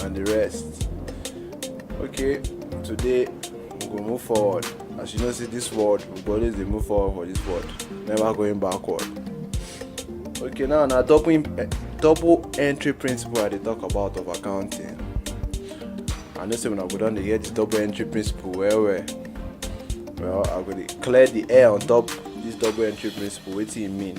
and the rest okay today we go move forward as you know see this world we go always dey move forward for this world never going backward okay now na double eh, double entry principle i dey talk about of accounting i know say una go don dey hear the double entry principle well well well i go dey clear the air on top this double entry principle wetin e mean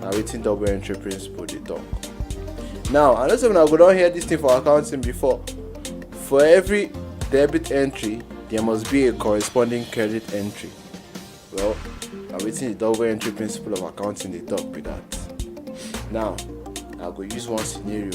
na wetin double entry principle dey talk now i know say una go don hear this thing for accounting before for every debit entry there must be a corresponding credit entry well na wetin the double entry principle of accounting dey talk be that now i go use one scenario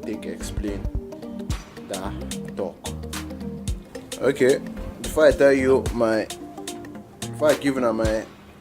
take explain that talk okay before i tell you my before i give una my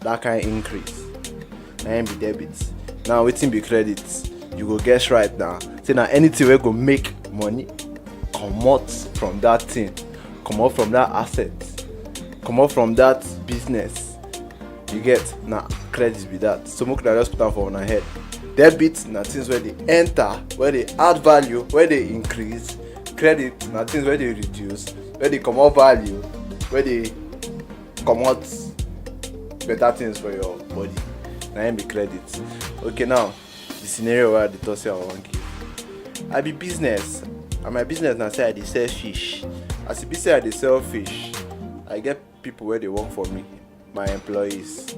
that kind increase na im be debit now wetin be credit you go guess right now say na anything wey go make money comot from that thing comot from that asset comot from that business you get na credit be that so make una just put am for una head debit na things wey dey enter wey dey add value wey dey increase credit na things wey dey reduce wey dey comot value wey dey comot better things for your body na im be credit okay now the scenario wey i dey talk say i wan give i be business and my business na say i dey sell fish as e be say i dey sell fish i get people wey dey work for me my employees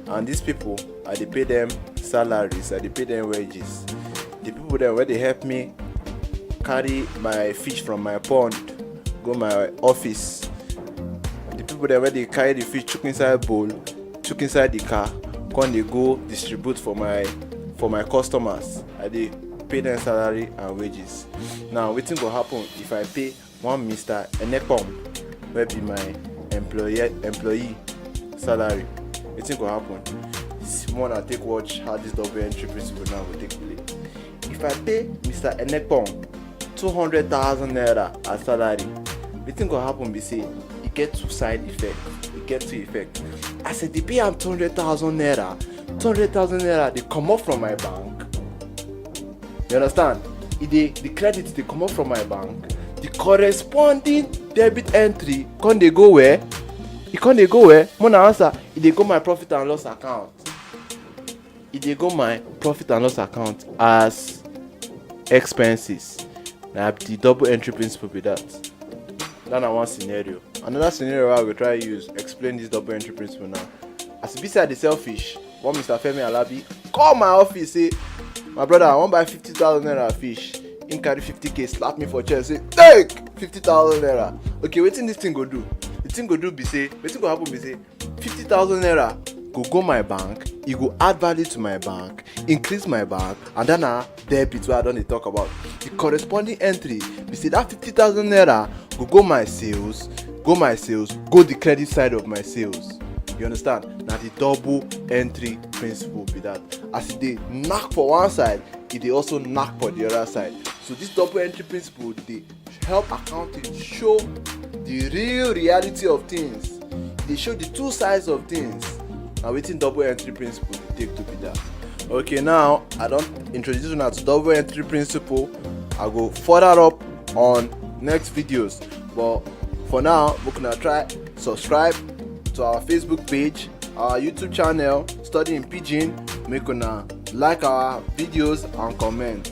and these people i dey pay dem salaries i dey pay dem wages the people dem wey dey help me carry my fish from my pond go my office the people dem wey dey carry the fish chook inside bowl chook inside the car come dey go distribute for my for my customers i dey pay dem salary and wages now wetin go happen if i pay one mr enekpom wey be my employee employee salary wetin go happen more na take watch how this double entry principle now go take play if i pay mr enekpom two hundred thousand naira as salary wetin go happen be say e get two side effect e get two effect as i dey pay am two hundred thousand naira two hundred thousand naira dey comot from my bank You understand? It e the credit they come up from my bank, the corresponding debit entry can they go where? It e can they go where? Mona answer, it e they go my profit and loss account. It they go my profit and loss account as expenses. Now the double entry principle be that. That na one scenario. Another scenario I will try use explain this double entry principle now. As e be say I dey sell fish, one mr femi alabi call my office say my brother i wan buy fifty thousand naira fish him carry fifty k slap me for chest say take fifty thousand naira okay wetin dis thing go do the thing go do be say wetin go happen be say fifty thousand naira go go my bank e go add value to my bank increase my bank and then na debit wey i don dey talk about the corresponding entry be say that fifty thousand naira go go my sales go my sales go the credit side of my sales you understand na the double entry principle be that as e dey knack for one side e dey also knack for the other side so this double entry principle dey Help accounting show the real reality of things. They show the two sides of things. Now within double entry principle dey take to be that. Okay now I don't introduce you now to double entry principle. I go further up on next videos but for now we gonna try subscribe to our facebook page our youtube channel studying pidgin make una like our videos and comment